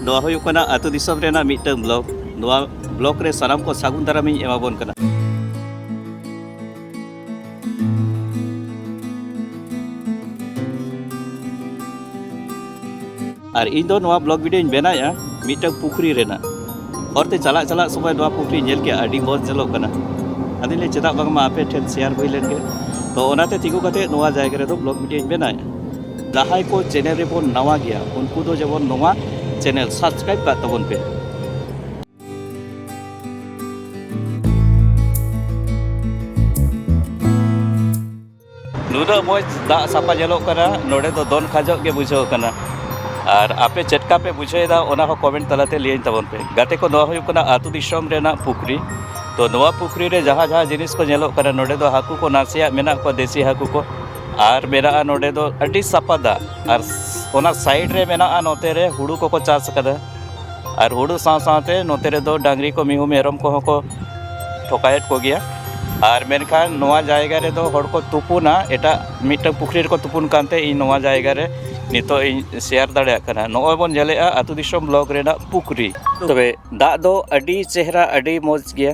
ᱱᱚᱣᱟ ᱦᱩᱭᱩᱜ ᱠᱟᱱᱟ ᱟᱹᱛᱩ ᱫᱤᱥᱚᱢ ᱨᱮᱱᱟᱜ ᱢᱤᱫᱴᱟᱝ ᱵᱞᱚᱠ ᱱᱚᱣᱟ ᱵᱞᱚᱠ ᱨᱮ ᱥᱟᱱᱟᱢ ᱠᱚ ᱥᱟᱹᱜᱩᱱ ᱫᱟᱨᱟᱢᱤᱧ ᱮᱢᱟᱵᱚᱱ ᱠᱟᱱᱟ ᱟᱨ ᱤᱧ ᱫᱚ ᱱᱚᱣᱟ ᱵᱞᱚᱜ ᱵᱷᱤᱰᱤᱭᱳᱧ ᱵᱮᱱᱟᱣᱮᱫᱼᱟ ᱢᱤᱫᱴᱟᱝ ᱯᱩᱠᱷᱨᱤ ᱨᱮᱱᱟᱜ ᱦᱚᱨᱛᱮ ᱪᱟᱞᱟᱜ ᱪᱟᱞᱟᱜ ᱥᱚᱢᱚᱭ ᱱᱚᱣᱟ ᱯᱩᱠᱷᱨᱤ ᱧᱮᱞ ᱠᱮᱫᱼᱟ ᱟᱹᱰᱤ ᱢᱚᱡᱽ ᱧᱮᱞᱚᱜ ᱠᱟᱱᱟ ᱟᱫᱚᱧ ᱞᱟᱹᱭ ᱪᱮᱫᱟᱜ ᱵᱟᱝᱢᱟ ᱟᱯᱮ ᱴᱷᱮᱱ ᱥᱮᱭᱟᱨ ᱦᱩᱭ ᱞᱮᱱᱜᱮ ᱛᱚ ᱚᱱᱟᱛᱮ ᱛᱤᱸᱜᱩ ᱠᱟᱛᱮᱫ ᱱᱚᱣᱟ ᱡᱟᱭᱜᱟ ᱨᱮᱫᱚ ᱵᱞᱚᱜ ᱵᱷᱤᱰᱤᱭᱳᱧ ᱵᱮᱱᱟᱣᱮᱫᱼᱟ ᱡᱟᱦᱟᱸᱭ ᱠᱚ ᱪᱮᱱᱮᱞ ᱨᱮᱵᱚᱱ ᱱᱟᱣᱟ ᱜᱮᱭᱟ ᱩᱱᱠᱩ ᱫᱚ ᱡᱮᱢᱚᱱ ᱱᱚᱣᱟ ᱪᱮᱱᱮᱞ ᱥᱟᱵᱥᱠᱨᱟᱭᱤᱵ ᱠᱟᱜ ᱛᱟᱵᱚᱱ ᱯᱮ ᱱᱩᱱᱟᱹᱜ ᱢᱚᱡᱽ ᱫᱟᱜ ᱥᱟᱯᱟ ᱧᱮᱞᱚᱜ ᱠᱟᱱᱟ ᱱᱚᱰᱮ ᱫᱚ ᱫᱚᱱ ᱠᱷᱟᱡᱚᱜ ᱜᱮ ᱵᱩᱡᱷᱟᱹᱣ ᱠᱟᱱᱟ ᱟᱨ ᱟᱯᱮ ᱪᱮᱫ ᱞᱮᱠᱟ ᱯᱮ ᱵᱩᱡᱷᱟᱹᱣᱮᱫᱟ ᱚᱱᱟ ᱦᱚᱸ ᱠᱚᱢᱮᱱᱴ ᱛᱟᱞᱟᱛᱮ ᱞᱟᱹᱭᱟᱹᱧ ᱛᱟᱵᱚᱱ ᱯᱮ ᱜᱟᱛᱮ ᱠᱚ ᱱᱚᱣᱟ ᱦᱩᱭᱩᱜ ᱠᱟᱱᱟ ᱟᱹᱛᱩ ᱫᱤᱥᱚᱢ ᱨᱮᱱᱟᱜ ᱯᱩᱠᱷᱨᱤ ᱛᱚ ᱱᱚᱣᱟ ᱯᱩᱠᱷᱨᱤ ᱨᱮ ᱡᱟᱦᱟᱸ ᱡᱟᱦᱟᱸ ᱡᱤᱱᱤᱥ ᱠᱚ ᱧᱮᱞᱚᱜ ᱠᱟᱱᱟ ᱱᱚᱰᱮ ᱫᱚ ᱦᱟᱹᱠᱩ ᱠᱚ ᱱᱟᱥᱮᱭᱟᱜ ᱢᱮᱱᱟᱜ ᱠᱚᱣᱟ ᱫᱮᱥᱤ ᱦᱟᱹᱠᱩ ᱠᱚ ᱟᱨ ᱢᱮᱱᱟᱜᱼᱟ ᱱᱚᱰᱮ ᱫᱚ ᱟᱹᱰᱤ ᱥᱟᱯᱷᱟ ᱫᱟᱜ ᱟᱨ ᱚᱱᱟ ᱥᱟᱭᱤᱰ ᱨᱮ ᱢᱮᱱᱟᱜᱼᱟ ᱱᱚᱛᱮ ᱨᱮ ᱦᱩᱲᱩ ᱠᱚᱠᱚ ᱪᱟᱥ ᱠᱟᱫᱟ ᱟᱨ ᱦᱩᱲᱩ ᱥᱟᱶ ᱥᱟᱶᱛᱮ ᱱᱚᱛᱮ ᱨᱮᱫᱚ ᱰᱟᱹᱝᱨᱤ ᱠᱚ ᱢᱤᱦᱩ ᱢᱮᱨᱚᱢ ᱠᱚᱦᱚᱸ ᱠᱚ ᱛᱚᱯᱟᱭᱮᱫ ᱠᱚᱜᱮᱭᱟ ᱟᱨ ᱢᱮᱱᱠᱷᱟᱱ ᱱᱚᱣᱟ ᱡᱟᱭᱜᱟ ᱨᱮᱫᱚ ᱦᱚᱲ ᱠᱚ ᱛᱩᱯᱩᱱᱟ ᱮᱴᱟᱜ ᱢᱤᱫᱴᱟᱝ ᱯᱩᱠᱷᱨᱤ ᱨᱮᱠᱚ ᱛᱩᱯᱩᱱ ᱠᱟᱱᱛᱮ ᱤᱧ ᱱᱚᱣᱟ ᱡᱟᱭᱜᱟ ᱨᱮ ᱱᱤᱛᱚᱜ ᱤᱧ ᱥᱮᱭᱟᱨ ᱫᱟᱲᱮᱭᱟᱜ ᱠᱟᱱᱟ ᱱᱚᱜᱼᱚᱭ ᱵᱚᱱ ᱧᱮᱞᱮᱫᱼᱟ ᱟᱛᱳ ᱫᱤᱥᱚᱢ ᱵᱞᱚᱠ ᱨᱮᱱᱟᱜ ᱯᱩᱠᱷᱨᱤ ᱛᱚᱵᱮ ᱫᱟᱜ ᱫᱚ ᱟᱹᱰᱤ ᱪᱮᱦᱨᱟ ᱟᱹᱰᱤ ᱢᱚᱡᱽ ᱜᱮᱭᱟ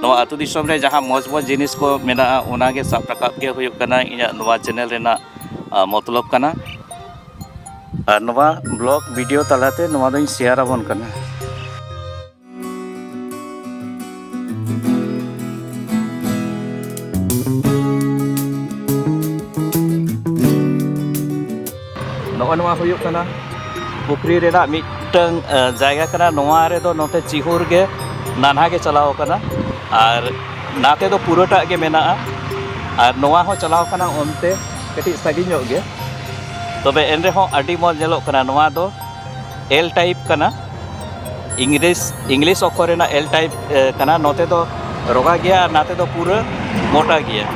ᱱᱚᱣᱟ ᱟᱹᱛᱩ ᱫᱤᱥᱚᱢ ᱨᱮ ᱡᱟᱦᱟᱸ ᱢᱚᱡᱽ ᱢᱚᱡᱽ ᱡᱤᱱᱤᱥ ᱠᱚ ᱢᱮᱱᱟᱜᱼᱟ ᱚᱱᱟᱜᱮ ᱥᱟᱵ ᱨᱟᱠᱟᱵ ᱜᱮ ᱦᱩᱭᱩᱜ ᱠᱟᱱᱟ ᱤᱧᱟᱹᱜ ᱱᱚᱣᱟ ᱪᱮᱱᱮᱞ ᱨᱮᱱᱟᱜ ᱢᱚᱛᱞᱚᱵ ᱠᱟᱱᱟ ᱟᱨ ᱱᱚᱣᱟ ᱵᱞᱚᱜ ᱵᱷᱤᱰᱤᱭᱳ ᱛᱟᱞᱟᱛᱮ ᱱᱚᱣᱟ ᱫᱚᱧ ᱥᱮᱭᱟᱨ ᱟᱵᱚᱱ ᱠᱟᱱᱟ ᱱᱚᱜᱼᱚ ᱱᱚᱣᱟ ᱦᱩᱭᱩᱜ ᱠᱟᱱᱟ ᱯᱩᱠᱷᱨᱤ ᱨᱮᱱᱟᱜ ᱢᱤᱫᱴᱟᱝ ᱡᱟᱭᱜᱟ ᱠᱟᱱᱟ ᱱᱚᱣᱟ ᱨᱮᱫᱚ ᱱᱚᱛᱮ ᱪᱤᱦᱩᱨ ᱜᱮ ᱱᱟᱱᱦᱟ ᱜᱮ ᱪᱟᱞᱟᱣ ᱠᱟᱱᱟ ᱟᱨ ᱱᱟᱛᱮ ᱫᱚ ᱯᱩᱨᱟᱹᱴᱟᱜ ᱜᱮ ᱢᱮᱱᱟᱜᱼᱟ ᱟᱨ ᱱᱚᱣᱟ ᱦᱚᱸ ᱪᱟᱞᱟᱣ ᱠᱟᱱᱟ ᱚᱱᱛᱮ ᱠᱟᱹᱴᱤᱡ ᱥᱟᱺᱜᱤᱧ ᱧᱚᱜ ᱜᱮ ᱛᱚᱵᱮ ᱮᱱ ᱨᱮᱦᱚᱸ ᱟᱹᱰᱤ ᱢᱚᱡᱽ ᱧᱮᱞᱚᱜ ᱠᱟᱱᱟ ᱱᱚᱣᱟ ᱫᱚ ᱮᱞ ᱴᱟᱭᱤᱯ ᱠᱟᱱᱟ ᱤᱝᱞᱤᱥ ᱤᱝᱞᱤᱥ ᱚᱠᱠᱷᱚᱨ ᱨᱮᱱᱟᱜ ᱮᱞ ᱴᱟᱭᱤᱯ ᱠᱟᱱᱟ ᱱᱚᱛᱮ ᱫᱚ ᱨᱚᱜᱟ ᱜᱮᱭᱟ ᱟᱨ ᱱᱟᱛᱮ ᱫᱚ ᱯᱩᱨᱟᱹ ᱢᱚᱴᱟ ᱜᱮᱭᱟ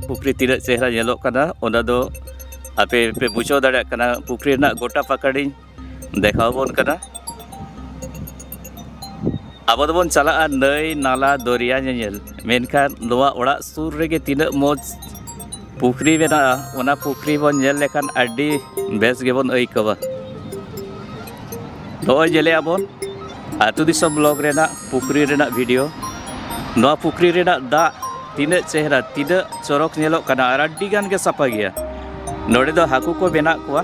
ᱯᱩᱠᱷᱨᱤ ᱛᱤᱱᱟᱹᱜ ᱪᱮᱦᱨᱟ ᱧᱮᱞᱚᱜ ᱠᱟᱱᱟ ᱚᱱᱟ ᱫᱚ ᱟᱯᱮ ᱯᱮ ᱵᱩᱡᱷᱟᱹᱣ ᱫᱟᱲᱮᱭᱟᱜ ᱠᱟᱱᱟ ᱯᱩᱠᱷᱨᱤ ᱨᱮᱱᱟᱜ ᱜᱚᱴᱟ ᱯᱟᱠᱟᱲᱤᱧ ᱫᱮᱠᱷᱟᱣ ᱵᱚᱱ ᱠᱟᱱᱟ ᱟᱵᱚ ᱫᱚᱵᱚᱱ ᱪᱟᱞᱟᱜᱼᱟ ᱱᱟᱹᱭ ᱱᱟᱞᱟ ᱫᱚᱨᱭᱟ ᱧᱮᱧᱮᱞ ᱢᱮᱱᱠᱷᱟᱱ ᱱᱚᱣᱟ ᱚᱲᱟᱜ ᱥᱩᱨ ᱨᱮᱜᱮ ᱛᱤᱱᱟᱹᱜ ᱢᱚᱡᱽ ᱯᱩᱠᱷᱨᱤ ᱢᱮᱱᱟᱜᱼᱟ ᱚᱱᱟ ᱯᱩᱠᱷᱨᱤ ᱵᱚᱱ ᱧᱮᱞ ᱞᱮᱠᱷᱟᱱ ᱟᱹᱰᱤ ᱵᱮᱥ ᱜᱮᱵᱚᱱ ᱟᱹᱭᱠᱟᱹᱣᱟ ᱱᱚᱜᱼᱚᱭ ᱧᱮᱞᱮᱜᱼᱟ ᱵᱚᱱ ᱟᱹᱛᱩ ᱫᱤᱥᱚᱢ ᱵᱞᱚᱜᱽ ᱨᱮᱱᱟᱜ ᱯᱩᱠᱷᱨᱤ ᱨᱮᱱᱟᱜ ᱵᱷᱤᱰᱤᱭᱳ ᱱᱚᱣᱟ ᱯᱩᱠᱷᱨᱤ ᱨᱮᱱᱟᱜ ᱫᱟᱜ ᱛᱤᱱᱟᱹᱜ ᱪᱮᱦᱨᱟ ᱛᱤᱱᱟᱹᱜ ᱪᱚᱨᱚᱠ ᱧᱮᱞᱚᱜ ᱠᱟᱱᱟ ᱟᱨ ᱟᱹᱰᱤ ᱜᱟᱱ ᱜᱮ ᱥᱟᱯᱷᱟ ᱜᱮᱭᱟ ᱱᱚᱰᱮ ᱫᱚ ᱦᱟᱹᱠᱩ ᱠᱚ ᱢᱮᱱᱟᱜ ᱠᱚᱣᱟ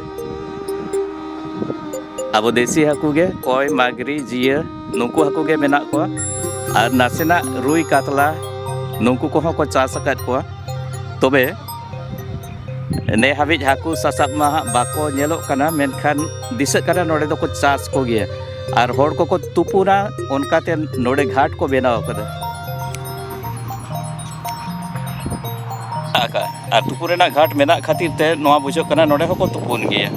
ᱟᱵᱚ ᱫᱮᱥᱤ ᱦᱟᱹᱠᱩ ᱜᱮ ᱠᱚᱭ ᱢᱟᱜᱽᱨᱤ ᱡᱤᱭᱟᱹ ᱱᱩᱠᱩ ᱦᱟᱹᱠᱩ ᱜᱮ ᱢᱮᱱᱟᱜ ᱠᱚᱣᱟ ᱟᱨ ᱱᱟᱥᱮᱱᱟᱜ ᱨᱩᱭ ᱠᱟᱛᱞᱟ ᱱᱩᱠᱩ ᱠᱚᱦᱚᱸ ᱠᱚ ᱪᱟᱥ ᱟᱠᱟᱫ ᱠᱚᱣᱟ ᱛᱚᱵᱮ ᱱᱮ ᱦᱟᱹᱵᱤᱡ ᱦᱟᱹᱠᱩ ᱥᱟᱥᱟᱵ ᱢᱟ ᱦᱟᱸᱜ ᱵᱟᱠᱚ ᱧᱮᱞᱚᱜ ᱠᱟᱱᱟ ᱢᱮᱱᱠᱷᱟᱱ ᱫᱤᱥᱟᱹᱜ ᱠᱟᱱᱟ ᱱᱚᱰᱮ ᱫᱚᱠᱚ ᱪᱟᱥ ᱠᱚᱜᱮᱭᱟ ᱟᱨ ᱦᱚᱲ ᱠᱚᱠᱚ ᱛᱩᱯᱩᱱᱟ ᱚᱱᱠᱟᱛᱮ ᱱᱚᱰᱮ ᱜᱷᱟᱴ ᱠᱚ ᱵᱮᱱᱟᱣ ᱟᱠᱟᱫᱟ ᱟᱨ ᱛᱩᱯᱩ ᱨᱮᱱᱟᱜ ᱜᱷᱟᱴ ᱢᱮᱱᱟᱜ ᱠᱷᱟᱹᱛᱤᱨ ᱛᱮ ᱱᱚᱣᱟ ᱵᱩᱡᱷᱟᱹᱜ ᱠᱟᱱᱟ ᱱᱚᱰᱮ ᱦᱚᱸᱠᱚ ᱛᱩᱯᱩᱱ ᱜᱮᱭᱟ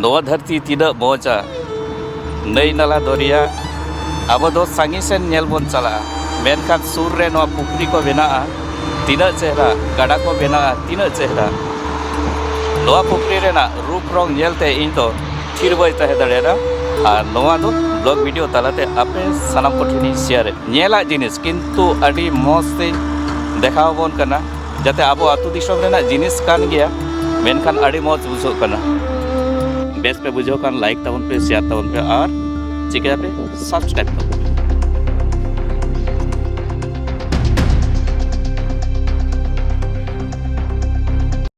ᱱᱚᱣᱟ ᱫᱷᱟᱹᱨᱛᱤ ᱛᱤᱱᱟᱹᱜ ᱢᱚᱡᱟ ᱱᱟᱹᱭ ᱱᱟᱞᱟ ᱫᱚᱨᱭᱟ ᱟᱵᱚ ᱫᱚ ᱥᱟᱺᱜᱤᱧ ᱥᱮᱱ ᱧᱮᱞ ᱵᱚᱱ ᱪᱟᱞᱟᱜᱼᱟ ᱢᱮᱱᱠᱷᱟᱱ ᱥᱩᱨ ᱨᱮ ᱱᱚᱣᱟ ᱯᱩᱠᱷᱨᱤ ᱠᱚ ᱵᱮᱱᱟᱜᱼᱟ ᱛᱤᱱᱟᱹᱜ ᱪᱮᱦᱨᱟ ᱜᱟᱰᱟ ᱠᱚ ᱵᱮᱱᱟᱜᱼᱟ ᱛᱤᱱᱟᱹᱜ ᱪᱮᱦᱨᱟ ᱱᱚᱣᱟ ᱯᱩᱠᱷᱨᱤ ᱨᱮᱱᱟᱜ ᱨᱩᱯ ᱨᱚᱝ ᱧᱮᱞᱛᱮ ᱤᱧ ᱫᱚ ᱛᱷᱤᱨ ᱵᱟᱹᱧ ᱛᱟᱦᱮᱸ ᱫᱟᱲᱮᱭᱟᱫᱟ ᱟᱨ ᱱᱚᱣᱟ ᱫᱚ ᱵᱞᱚᱜ ᱵᱷᱤᱰᱤᱭᱳ ᱛᱟᱞᱟᱛᱮ ᱟᱯᱮ ᱥᱟᱱᱟᱢ ᱠᱚᱴᱷᱮᱱᱤᱧ ᱥᱮᱭᱟᱨᱮᱫ ᱧᱮᱞᱟᱜ ᱡᱤᱱᱤᱥ ᱠᱤᱱᱛᱩ ᱟᱹᱰᱤ ᱢᱚᱡᱽ ᱛᱮᱧ ᱫᱮᱠᱷᱟᱣ ᱟᱵᱚᱱ ᱠᱟᱱᱟ ᱡᱟᱛᱮ ᱟᱵᱚ ᱟᱹᱛᱩ ᱫᱤᱥᱚᱢ ᱨᱮᱱᱟᱜ ᱡᱤᱱᱤᱥ ᱠᱟᱱ ᱜᱮᱭᱟ ᱢᱮᱱᱠᱷᱟᱱ ᱟᱹᱰᱤ ᱢᱚᱡᱽ ᱵᱩᱡᱷᱟᱹᱜ ᱠᱟᱱᱟ ᱵᱮᱥ ᱯᱮ ᱵᱩᱡᱷᱟᱹᱣ ᱠᱷᱟᱱ ᱞᱟᱭᱤᱠ ᱛᱟᱵᱚᱱ ᱯᱮ ᱥᱮᱭᱟᱨ ᱛᱟᱵᱚᱱ ᱯᱮ ᱟᱨ ᱪᱤᱠᱟᱹᱭᱟᱯᱮ ᱥᱟᱵᱥᱠᱨᱟᱭᱤᱵ ᱛᱟᱵᱚᱱ